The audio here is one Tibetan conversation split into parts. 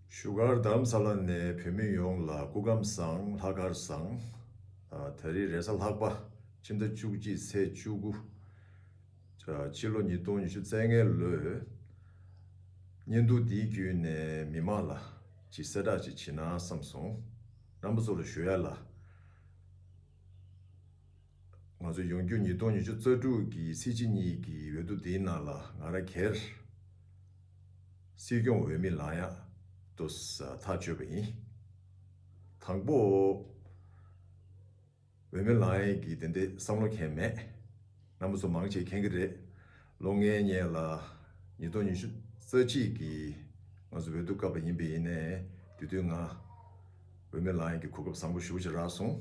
བཞུགས་སྒར་དམ་ས་ལ་ནས་བོད་མི་ཡོངས་ལ་སྐུ་ཁམས་བཟང་ལྷག་དཀར་བཟང། ད་རེས་རེས་གཟའ་ལྷག་པ་ཕྱི་ཟླ་བཅུ་གཅིག་ཚེས་བཅུ་དགུ། ཕྱི་ལོ་ཉིས་སྟོང་ཉི་ཤུ་རྩེ་ལྔའི་ལོའི་བརྙན་ཐུང་འདི་བརྒྱུད་ནས་མི་མང་ལ་ཅིག་གསལ་བསྒྲགས་ཅིག་བྱེད་ན་བསམས་སོང། རྣམ་པ་ཚོ་ལ་ཞུ་ཡ་ལ། ང་ཚོ་ཡོང་རྒྱུ་ཉིས་སྟོང་ཉི་ཤུ་རྩ་དྲུག་གི་ཚེས་གཅིག་གཉིས་ཀྱི་འོས་བསྡུ་དེའི་ནང་ལ་ང་ར་གེར། སྲིད་སྐྱོང་འོས་མི་ལང་ཡང་དུ་ཐག་གཅོད་པ་ཡིན། དང་པོ། འོས་མི་ལང་ཡང་གིས་དེ་འདྲའི་བསམ་བློ་མཁན་མེད། རྣམ་པ་ཚོ་མང་ཆེ་མཁྱེན་གྱི་རེད། ལོ་ལྔའི་སྙན་ལ་ཉིས་སྟོང་ཉི་ཤུ་རྩ་གཅིག་གི་ང་ཚོ་འོས་བསྡུ་སྐབས་ལ་ཡིན་པས་ཡིན་ནའི་དུས་དུས་ང་འོས་མི་ལང་ཡང་གིས་གོ་སྐབས་བཟང་པོ་ཞུ་བྱ་རག་སོང།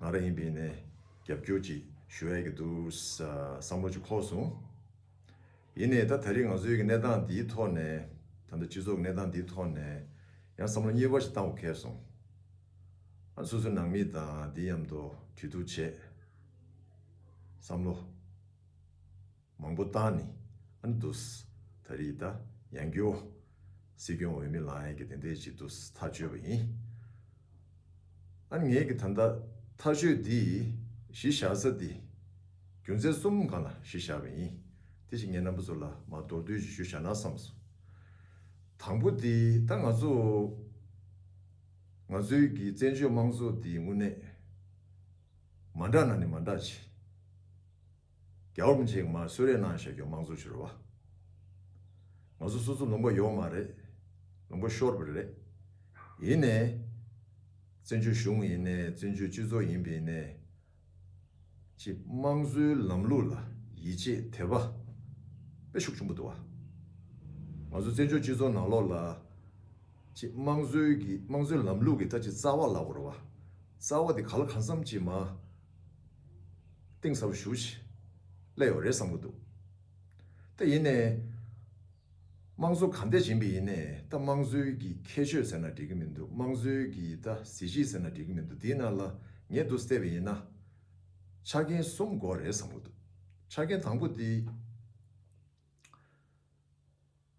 ང་རང་ཡིན་པའི་ནས་རྒྱབ་སྐྱོར་ཅིག་ཞུ་ཨེ་གི་འདུག་བསམ་བློ་ཅིག་འཁོར་སོང། ཡིན་ནའི་ད་ད་རིང་ང་ཚོའི་གི་གནས་སྟངས་འདིའི་ཐོག་ནས་ད་ལྟ་སྤྱི་ཚོགས་གི་གནས་སྟངས་འདིའི་ཐོག་ནས་ཡང་བསམ་བློ་གཉིས་པ་ཞིག་བཏང་བ་འཁེལ་སོང། ང་སོ་སོའི་ནང་མི་དང་འདི་ཡམ་དོ་དུས་ཐུག་བྱས། བསམ་བློ། མང་པོ་བཏང་ནས་ཨ་འདུས། ད་རེས་ད་ཡང་རྒྱུ་བ། སྲིད་སྐྱོང་འོས་མི་ལའང་ཡག་གི་དེ་འདྲའི་ཅིག་འདུས་ཐག་གཅོད་པ་ཡིན། ཨ་ངེད་ཀྱི་ད་ལྟ་ཐག་གཅོད་འདི་གཞི་བཞག་ས་འདི་རྒྱུ་མཚན་གསུམ་སྒང་ལ་གཞི་བཞག་པ་ཡིན། དེ་བཞིན་ངེད་རྣམ་པ་ཚོ་ལ་མ་མདོར་བསྡུས་ཀྱི་ཞུ་བཞག་ན་བསམ་སོང། དང་པོ་འདི་ད་ང་ཚོ་ང་ཚོའི་གི་བཙན་བྱོལ་དམངས་གཙོ་འདི་དངོས་གནས་མ་འདྲ་ན་ནི་མ་འདྲ་ཅིག། རྒྱ་འོམ་ཅིག་མ་གསོད་རེས་གནང་བཞག་རྒྱུ་དམངས་གཙོ་ཕྱི་རུ་བ། ང་ཚོ་སོ་སོ་ལུང་པ་ཡོད་མ་རེད། ལུང་པ་ཤོར་བས་རེད། ཡིན་ནས། བཙན་བྱོལ་གཞུང་ཡིན་ནས་བཙན་བྱོལ་སྤྱི་ཚོགས་ཡིན་པས་ནས། ཅིག་དམངས་གཙོའི་ལམ་ལུགས་ལ་ཡིད་ཆེས་དེ་བ། པེ་ཤུགས་ཆུང་པོ་དུ་བ། ང་ཚོ་བཙན་བྱོལ་སྤྱི་ཚོགས་ནང་ལོགས་ལ། ཅིག་དམངས་གཙོའི་གི་དམངས་གཙོའི་ལམ་ལུགས་ཀྱི་ད་ཅིག་རྩ་བ་ལ་བོར་བ། རྩ་བ་དེ་ག་ལ་གང་འཚམ་ཅིག་མ། གཏིང་ཟབ་ཞུ་བྱེད་ཀླད་ཡོད་རེད་བསམ་གྱི་འདུག་ད་ཡིན་ནའི། དམངས་གཙོ་ག་འདས་བྱིན་པའི་ཡིན་ནའི་ད་དམངས་གཙོའི་གི་ཁྱད་ཆོས་ཟེར་ན་འགྲིག་གི་མི་འདུག་དམངས་གཙོའི་གི་ད་གཟི་བརྗིད་ཟེར་ན་འགྲིག་གི་མི་འདུག་དེའི་ནང་ལ་ངས་འདུག་བལྟས་པའི་ཡིན་ན། ཆ་རྐྱེན་གསུམ་དགོས་རེད་བསམ་གྱི་འདུག་ཆ་རྐྱེན་དང་པོ་དེ།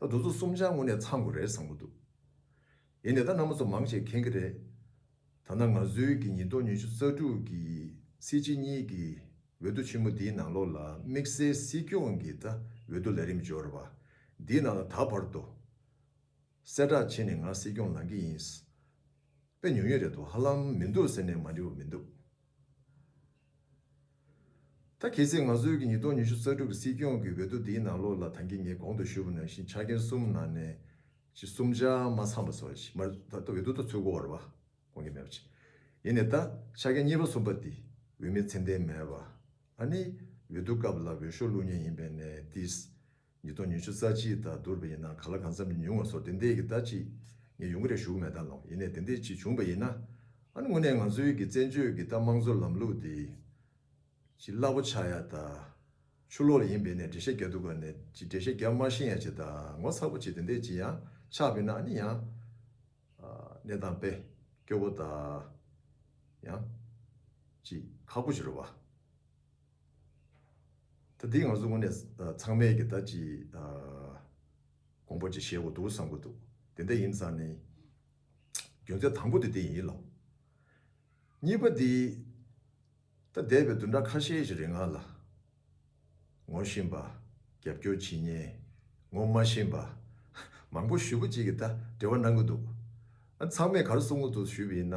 ད་འདུག་ཚོ་གསུམ་ཆ་དངོས་ནས་ཚང་དགོས་རེད་བསམ་གྱི་འདུག་ཡིན་ནའི་ད་ནང་མ་ཚོ་མང་བྱེད་མཁན་གྱི་རེད། ད་ནང་ང་ཚོའི་གྱི་ཉིས་སྟོང་ཉི་ཤུ་རྩ་དྲུག་གྱི་སྲིད་སྤྱི་གཉིས་ཀྱི་འོས་བསྡུ་ཆེན་མོ་འདིའི་ནང་ལོགས་ལ་དམིགས་བསལ་སྲིད་སྐྱོང་གྱི་ད་འོས་བསྡུ་ལས་རིམ་འབྱོར་བ་འདིའི་ནང་ལ་ད་བར་དུ་གསལ་བསྒྲགས་བྱས་ནས་ང་སྲིད་སྐྱོང་ལང་གི་ཡིན། དཔེ་ཉུང་ཉུང་རེད་འདུག་ཧ་ལམ་མི་འདུག་ཟེར་ནས་མ་འབྲི་བ་མི་འདུག། ད་གལ་སྲིད་ང་ཚོའི་ཉིས་སྟོང་ཉི་ཤུ་རྩ་དྲུག་གི་སྲིད་སྐྱོང་གི་འོས་བསྡུ་འདིའི་ནང་ལོགས་ལ་ཐང་གིས་ངའི་གོང་དུ་ཞུས་པ་ནང་བཞིན་ཆ་རྐྱེན་གསུམ་ནང་ནས་གཅིག་གསུམ་ཆ་མ་ཚང་བ་སོགས་ཞིག་མར་ད་འོས་བསྡུ་ཐོག་ཚུད་དགོས་བར་བ་གོང་གི་མེད་པ་ཅིག་ཡིན་ནས་ད་ཆ་རྐྱེན་གཉིས་པ་གསུམ་པ་འདི་འོས་མི་ཚད་ལྡན་མེད་བ་ཨ་ནི་འོས་བསྡུ་སྐབས་ལ་འོས་ཤོག་བླུགས་ཉེན་ཡིན་པས་ནས་དེས་ཉིས་སྟོང་ཉི་ཤུ་རྩ་གཅིག་དང་བསྡུར་བ་ཡིན་ན་ག་ལ་གང་འཚམས་ཉུང་བ་སོགས་དེ་འདས་ཀྱི་ཟླ་གཅིག་ངས་ཡུང་ག་རེ་བཞུགས་མེད་ད་ལོ་ཡིན་ནས་དེ་འདས་གཅིག་བྱུང་བ་ཡིན་ན། ཨ་ནི་དངོས་གནས་ང་ཚོའི་གི་བཙན་བྱོལ་གི་ད་དམངས་གཙོ་ལམ་ལུགས་འདི། ཅི་སླ་པོ་ཆགས་ཡ་ད། ཆུ་ལོག་ཡིན་བས་ནས་འགྲེལ་བཤད་རྒྱག་འདུག་ག་ནས་ཅི་འགྲེལ་བཤད་རྒྱག་དམར་ཤིང་ཡ་ཅི་ད་ངོ་ཚ་པོ་ཅིག་དེ་འདས་ཅི་ཡང་ཆགས་བས་ན་ཨ་ནི་ཡང། གནས་སྟངས་དཔེ་སྐྱོ་པོ་ད། ཡང། ཅི་ཁག་པོ་ཅི་རུ་བ། ད་འདི་ང་ཚོ་དངོས་གནས་ཚང་མས་ཀྱི་ད་ཅི་དགོངས་པ་ཅིག་བཞེས་དགོས་འདུག་བསམ་གྱི་འདུག་དེ་འད་ཡིན་ཙང་ནི། རྒྱུ་མཚན་དང་པོ་དེ་འདི་ཡིན་ལ། གཉིས་པ་འདི། ད་འདས་པའི་བདུན་ཕྲག་ཁ་ཤས་ཀྱི་རིང་ང་ལ། ངོ་བཞིན་པ། རྒྱབ་སྐྱོར་བྱེད་ཉེན། ངོ་མ་བཞིན་པ། མང་པོ་ཞུ་བ་ཅིག་གི་ད་འབྲེལ་བ་གནང་གི་འདུག་ཨ་ཚང་མས་གར་སོང་གི་འདུག་ཞུས་པ་ཡིན་ན།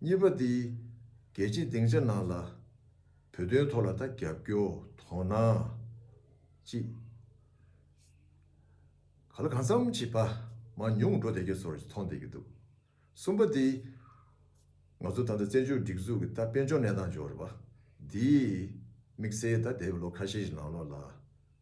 གཉིས་པ་དེ། རྒྱལ་སྤྱིའི་སྡིངས་ཆ་ནང་ལ། བོད་དོན་ཐོག་ལ་ད་རྒྱབ་སྐྱོར་དོ་སྣང། ཅི། ག་ལ་གང་འཚམ་བྱེད། ཕ་མ་ཉུང་འགྲོ་བསྡད་རྒྱུ་ཚོར་ཅིག་མཐོང་བསྡད་རྒྱུ་འདུག། གསུམ་པ་དེ། ང་ཚོ་ད་ལྟ་བཙན་བྱོལ་སྒྲིག་འཛུགས་ཀྱི་ད་དཔལ་འབྱོར་གནས་སྟངས་འཇོག་རེ་བ། འདིས། དམིགས་བསལ་ད་འདས་པའི་ལོ་ཁ་ཤས་ཀྱི་ནང་ལོགས་ལ།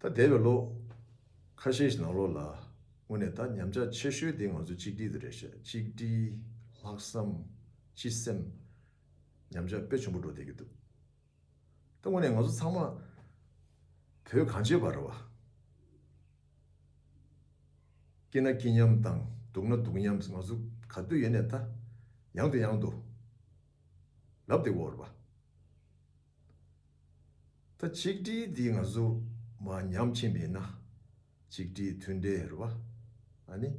ད་འདས་པའི་ལོ། ཁ་ཤས་ཤིག་ནང་ལོགས་ལ། དངོས་གནས་ད་ཉམས་ཆག་ཆེ་ཤོས་དེ་ང་ཚོ་གཅིག་སྒྲིལ་དུ་རེ་བཤད་གཅིག་སྒྲིལ། ལྷག་བསམ། སྤྱི་སེམས། ཉམས་ཆག་དཔེ་ཆུང་པོ་འགྲོ་བསྡད་ཀྱི་འདུག་ད་དངོས་གནས་ང་ཚོ་ཚང་མ། བོད་གངས་ཅན་བར་བ། སྐྱིད་ན་སྐྱིད་མཉམ་དང་སྡུག་ན་སྡུག་མཉམ་ང་ཚོ་ག་དུས་ཡེ་ནས་ད། ཡང་དུ་ཡང་དུ། ལབ་སྟེ་བོར་བ། ད་ཆིག་སྒྲིལ་འདི་ང་ཚོ་མ་ཉམས་ཕྱིན་པས་ན་ཆིག་སྒྲིལ་མཐུན་སྒྲིལ་རེད་བ་ཨ་ནི།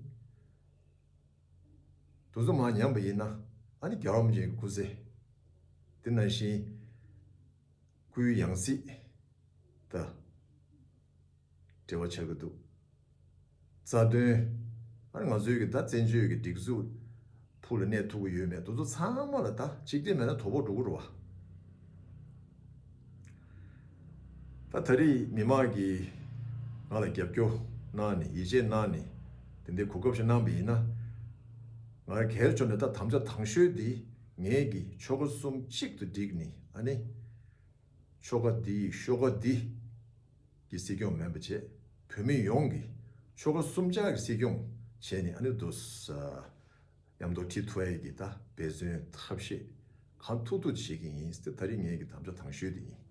དུ་ཚོ་མ་ཉམས་པ་ཡིན་ན་ཨ་ནི་རྒྱ་རོམ་ཅན་གྱི་སྐུ་ཚེ་འདི་ནང་བཞིན་སྐུའི་ཡང་སྲིད་དུ། འབྲེལ་བ་ཆགས་ཀྱི་འདུག་རྩ་དོན། ཨ་རི་ང་ཚོའི་གི་ད་བཙན་བྱོལ་གི་སྒྲིག་འཛུགས་ཕུགས་ལ་གནས་ཐུབ་ཀྱི་ཡོད་མེད་དུ་ཚོ་ཚང་མ་ལ་ད་ཅིག་སྒྲིལ་མེད་ན་དོ་ཕོག་འགྲོ་གི་རོ་བ། ད་ད་རིས་མི་མང་གི་ང་ལ་རྒྱབ་སྐྱོ་གནང་ནི་ཡིད་ཆེས་གནང་ནི་དེ་འདི་གོ་སྐབས་ཤིག་གནང་བི་ཡིན་ན་ང་ར་གལ་ཆོ་ནི་ད་དམ་བཅའ་དང་ཤོས་འདི་ངེད་གི་ཆོ་ག་གསུམ་གཅིག་ཏུ་བསྒྲིག་ནི་ཨ་ནི། ཆོ་ག་འདི་ཡིས་ཤོ་ཀ་འདི། ཀྱི་སྲིད་སྐྱོང་མེན་པ་བྱས། བོད་མི་ཡོངས་ཀྱི། ཆོ་ག་གསུམ་ཆ་གི་སྲིད་སྐྱོང། བྱས་ནས་ཨ་ནུ་རྡོ་ས། ཡམ་རྡོ་ཁྲི་ཐུ་ཨའི་གི་ད་འབད་བརྩོན་ཐབས་ཤེས། གང་ཐུག་ཐུག་བྱེད་ཀྱི་ཡིན་སྟེ་ད་རིས་ངེད་ཀྱི་དམ་བཅའ་དང་ཤོས་དེ་ཡིན།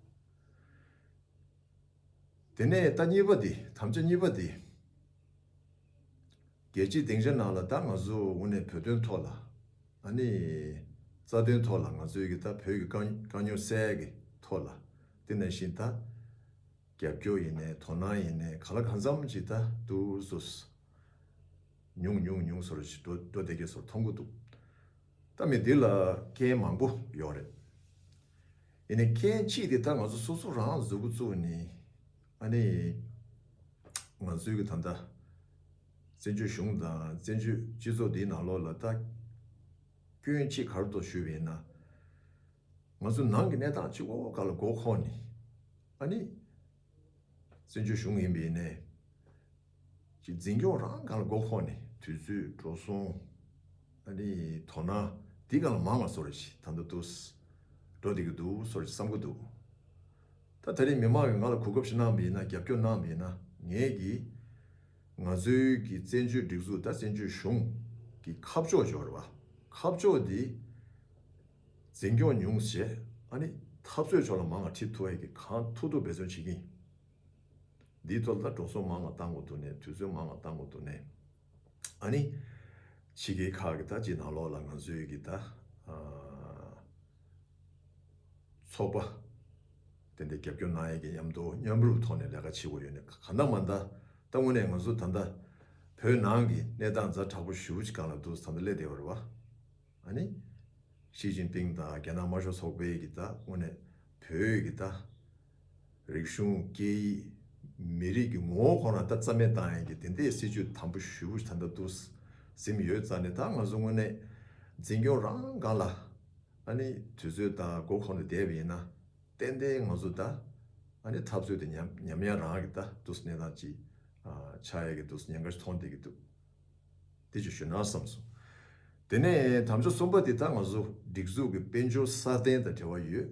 དེ་ནས་ད་གཉིས་པ་དེ་དམ་བཅའ་གཉིས་པ་དེ། རྒྱལ་སྤྱིའི་སྡིངས་ཆ་ནང་ལ་ད་ང་ཚོ་དབུ་ནས་བོད་དོན་ཐོག་ལ། ཨ་ནི། རྩ་དོན་ཐོག་ལ་ང་ཚོའི་གི་ད་བོད་ཀྱི་དཀའ་རྙོག་གསལ་གི་ཐོག་ལ་དེ་ནས་བཞིན་ད། རྒྱབ་སྐྱོར་ཡིན་ནས་དོ་སྣང་ཡིན་ནས་ག་ལ་གང་འཚམ་ཅིག་ད་དུ་ཟོས། ཉུང་ཉུང་ཉུང་ཟོར་ཞིག་འགྲོ་འགྲོ་བསྡད་ཀྱི་ཟོར་མཐོང་གི་འདུག་ད་མི་འདི་ལ་རྐྱེན་མང་པོ་ཡོག་རེད། ཡིན་ནས་རྐྱེན་གཅིག་དེ་ད་ང་ཚོ་སོ་སོ་རང་ཟོས་གི་ཙུག་ནི། ཨ་ནི། ང་ཚོའི་གི་ད་ད། བཙན་བྱོལ་གཞུང་དང་བཙན་བྱོལ་སྤྱི་ཚོགས་འདིའི་ནང་ལོགས་ལ་ལྟ་སྐྱོན་ཅི་གར་དུ་ཞུས་པ་ཡིན་ན། ང་ཚོ་ནང་གི་གནས་སྟངས་སྤྱི་ཁོག་ཁག་ལ་མགོ་འཁོར་ནས། ཨ་ནི། བཙན་བྱོལ་གཞུང་ཡིན་པའི་ནས། ཀྱི་འཛིན་སྐྱོང་རང་གང་ལ་མགོ་འཁོར་ནས་དུས་ཚོད་འགྲོ་སོང། ཨ་ནི། དོ་སྣང་འདི་གང་ལ་མང་ང་སོར་ཞིག་ད་ལྟ་དུ། འགྲོ་བསྡད་ཀྱི་འདུག་སོར་ཞིག་བསམ་གྱི་འདུག། ད་ད་རེས་མི་མང་གིས་ང་ལ་གོ་སྐབས་ཤིག་གནང་བས་ན་རྒྱབ་སྐྱོར་གནང་བས་ན་ངས་ཀྱིས། ང་ཚོའི་གི་བཙན་བྱོལ་སྒྲིག་འཛུགས་དང་བཙན་བྱོལ་གཞུང་གི་ཁ་ཕྱོགས་སྦྱོར་བ། ཁ་ཕྱོགས་དེ་འཛིན་སྐྱོང་ཉུང་ཟད་ཨ་ནི་འཐབ་རྩོད་ཕྱོགས་ལ་མང་ང་ཁྲིད་ཐུ་ཨེ་གི་གང་ཐུག་ཐུག་འབད་བརྩོན་བྱེད་ཀྱིན། འདིའི་ཐོག་ལ་འགྲོ་སོང་མང་ང་བཏང་གོ་ཐུག་ནས་དུས་ཚོད་མང་ང་བཏང་གོ་ཐུག་ནས། ཨཱ་ནི། ཕྱི་དགེ་ཁག་གི་ད་ཅི་ནང་ལོག་ལ་ང་ཚོའི་གི་ད། ཚོགས་པ། དེ་འདྲའི་རྒྱབ་སྐྱོར་གནང་ཡས་གི་མཉམ་དུ་མཉམ་རུབ་ཐོག་ནས་ལས་ཀ་བྱེད་དགོས་ཡོད་ནི་ག་ད་མ་ད། ད་དངོས་གནས་ང་ཚོ་ད་ད། བོད་ནང་གི་གནས་སྟངས་རྫ་དྲག་པོ་ཞུ་གང་ལ་འདུག་ད་ད་སླེ་དེ་བར་བ། ཨཱ་ནི། ཞིས་ཅིན་ཕིང་དང་རྒྱ་ནག་དམར་ཤོག་ཚོགས་པའི་གི་ད་དངོས་གནས་བོད་གི་ད། རིག་གཞུང། སྐད་ཡིག། མི་རིགས་ཀྱི་ངོ་བོ་ཁོ་ན་ད་རྩ་མེད་བཏང་ཡོད་ཀྱི་དེ་འདའི་སྲིད་བྱུས་དམ་པོ་ཞུ་བུ་ད་འདའ་འདུག་སིམ་ཡོད་རྩ་ནི་ད་ང་ཚོ་དངོས་གནས་འཛིན་སྐྱོང་རང་དགའ་ལ། ཨ་ནི་དུས་ཚོད་ད་སྒོ་ཁོ་ན་བསྡད་པ་ཡིན་ན་ཏན་ཏན་ང་ཚོ་ད་ཨ་ནི་འཐབ་རྩོད་དེ་ཉམས་ཉམས་ཡང་རང་གི་ད་འདུག་གནས་སྟངས་ཅི་ཆགས་ཡོད་ཀྱི་འདུག་ཉེན་ཁ་མཐོང་བསྡད་ཀྱི་འདུག་དེ་ཅུ་ཞུ་ན་བསམ་སོང། དེ་ནས་དམ་བཅའ་གསུམ་པ་དེ་ད་ང་ཚོ་སྒྲིག་འཛུགས་ཀྱི་དཔལ་འབྱོར་སྲ་བརྟན་དང་འབྲེལ་བ་ཡོད།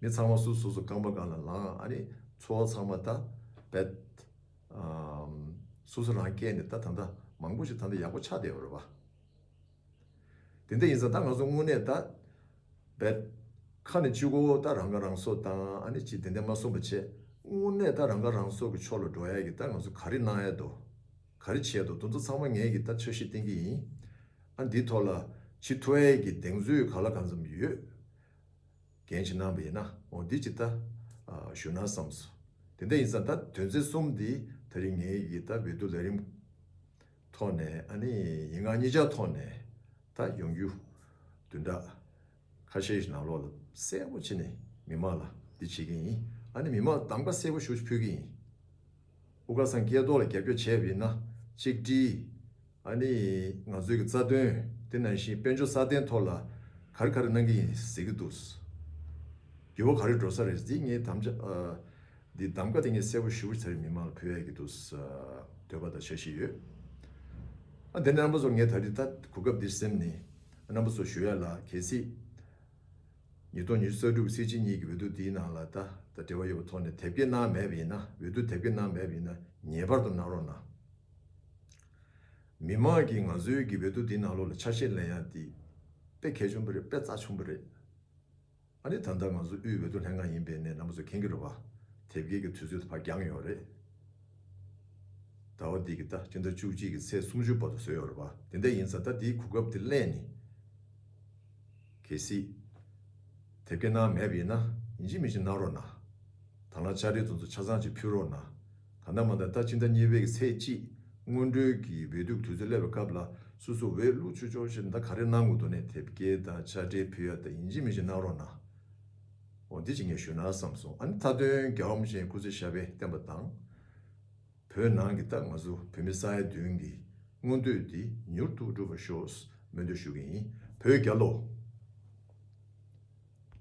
མི་ཚང་མ་སུ་སུ་སུ་རྐང་པ་གང་ལ་ལངས་ཨ་རེ་འཚོ་བ་ཚང་མ་ད་བད། སུ་སུ་རང་སྐད་ནས་ད་ད་ད་མང་པོ་ཞིག་ད་ད་ཡག་པོ་ཆགས་བསྡད་པ་རེད་བ། དེ་འད་ཡིན་ཙང་ད་ང་ཚོ་དངོས་གནས་ད་བད། ཁ་ནས་ཅི་གོ་བོ་ད་རང་ཁ་རང་གསོ་བཏང་ཨ་ནེ་ཅི་དེ་འད་མ་གསུངས་པ་བྱས་དངོས་གནས་ད་རང་ཁ་རང་གསོ་གི་ཕྱོགས་ལ་འགྲོ་ཡག་གི་ད་ང་ཚོ་ག་རེ་གནང་ཡས་དོ། ག་རེ་བྱས་འདུག་དོན་དུ་ཚང་མ་ངས་ཀྱི་ད་འཆར་གཞི་བསྟན་གྱི་ཡིན། ཨ་འདིའི་ཐོག་ལ་ཆེས་མཐོ་ཨེ་ཀྱི་གདེང་ཚོད་ག་ལ་གང་འཚམ་ཡོད། འགན་ཆེ་གནང་བ་ཡིན་ན་འོ་འདི་ཅིག་ད་ཞུ་ན་བསམ་སོ། དེ་འད་ཡིན་ཙང་ད་དོན་ཚན་གསུམ་འདི་ད་རིང་ངས་ཀྱི་ད་བོད་དུ་ལས་རིམ་ཐོག་ནས་ཨ་ནི་ཡིན་ང་གཉིས་ཅག་ཐོག་ནས་ད་ཡོང་རྒྱུ་དུད་འདྲ། ཁ་ཤས་ཀྱིས་ནང་ལོག་ལ་གསལ་པོ་བྱས་ནས་མི་དམངས་ལ་འདི་བྱེད་ཀྱི་ཡིན་ཨ་ནི་མི་དམངས་ལ་གདམ་ཀ་གསལ་པོ་ཞུ་ཕོད་ཀྱི་ཡིན། དབུ་དཀར་སངས་རྒྱས་ཐོག་ལ་རྒྱབ་སྐྱོར་བྱས་པ་ཡིན་ན་གཅིག་བཀྲིས། ཨ་ནི་ང་ཚོའི་གི་རྩ་དོན་དེ་ནང་བཞིན་དཔལ་འབྱོར་སྲ་བརྟན་ཐོག་ལ་ག་རེ་ག་རེ་གནང་གི་ཡིན་ཟེར་གྱི་འདུག་འགྱུར་བ་ག་རེ་འགྲོ་ས་རེད་འདི་ངའི་དམ་བཅའ་འདི་གདམ་ཀ་དེ་ངས་གསལ་པོ་ཞུ་ཚར་མི་དམངས་ལ་ཕུལ་ཡ་གྱི་འདུག་འདོད་པ་དང་བྱ་བཞིན་ཡོད་ཨ་འདི་ནས་རྣམ་པ་ཚོར་ངས་ད་ལྟའི་ད་གོ་སྐབས་འདིར་སེམས་ནི་རྣམ་པ་སོགས་ཞུ་ཡ་ལ་གལ་སྲིད། ཉིས་སྟོང་ཉི་ཤུ་གསར་འགྲུབ་སྲིད་སྤྱི་གཉིས་ཀྱི་འོས་བསྡུ་འདིའི་ནང་ལ་བརྡ་དང་འབྲེལ་བ་ཡོད་པ་ཐོག་ནས་དེབ་སྐྱེལ་གནང་མེད་པ་ཡིན་ན་འོས་བསྡུ་དེབ་སྐྱེལ་གནང་མེད་པ་ཡིན་ན་ངེས་པར་དུ་གནང་རོགས་གནང། མི་མང་གིས་ང་ཚོའི་གི་འོས་བསྡུ་འདིའི་ནང་ལོགས་ལ་ཆ་ཤས་ལེན་ཡ་འདི་དཔེ་གལ་ཆུང་པོ་རེད་དཔེ་རྩ་ཆུང་པོ་རེད། ཨ་ནི་ད་ལྟ་ང་ཚོ་དབུས་འོས་བསྡུ་ལྷན་ཁང་ཡིན་པའི་ནས་ནམ་ཚོད་ཁེངས་ཀྱི་རོ་བ། དེབ་སྐྱེལ་གྱི་དུས་ཚོད་ད་བར་འགྱངས་ཡོད་རེད། ད་བ་འདི་གི་ད་སྤྱི་ཟླ་བཅུ་གཅིག་གི་ཚེས་སུམ་ཅུ་བར་དུ་བཟོས་ཡོད་རེད་བ། དེ་འད་ཡིན་ཚ་ད་དེའི་གོ་སྐབས་དེ་གླེང་ནི། གལ་སྲིད། དེབ་སྐྱེལ་གནང་མེད་པ་ཡིན་ན་ཡིན་གཅིག་མིན་གཅིག་གནང་རོགས་གནང། དང་ལ་ལྕགས་རི་རྫོང་ཚོ་ཆ་ཚང་གཅིག་ཕུལ་རོགས་གནང། ད་ལྟ་མ་ད་ལྟ་ཕྱི་ཟླ་གཉིས་པའི་ཚེས་གཅིག་སྔོན་འགྲོའི་གི་འོས་བསྡུ་དུས་ཚོད་སླེབས་པའི་སྐབས་ལ་སུ་སུ་འོས་བླུག་ཆུ་ཆོག་ཤེས་ད་ག་རེ་གནང་དགོས་འདུག་ནས་དེབ་སྐྱེལ་ད་ཆ་སྤྲེལ་ཕུལ་ཡ་ད་ཡིན་གཅིག་མིན་གཅིག་གནང་རོགས་གནང། འོ་འདི་ཅིག་ངས་ཞུ་ན་བསམ་སོང་ཨ་ནི་མཐའ་དོན་རྒྱ་འོམ་ཅན་སྐུ་ཚེ་ཞབས་པས་བསྟན་པ་དང། བོད་ནང་གི་ད་ང་ཚོ་བོད་མི་ས་ཡ་བདུན་གི་མངོན་འདོད་འདི་མྱུར་དུ་འགྲུབ་པ་ཤོག་སྨོན་འདུན་ཞུ་གི་ཡིན་བོད་རྒྱ་ལོ།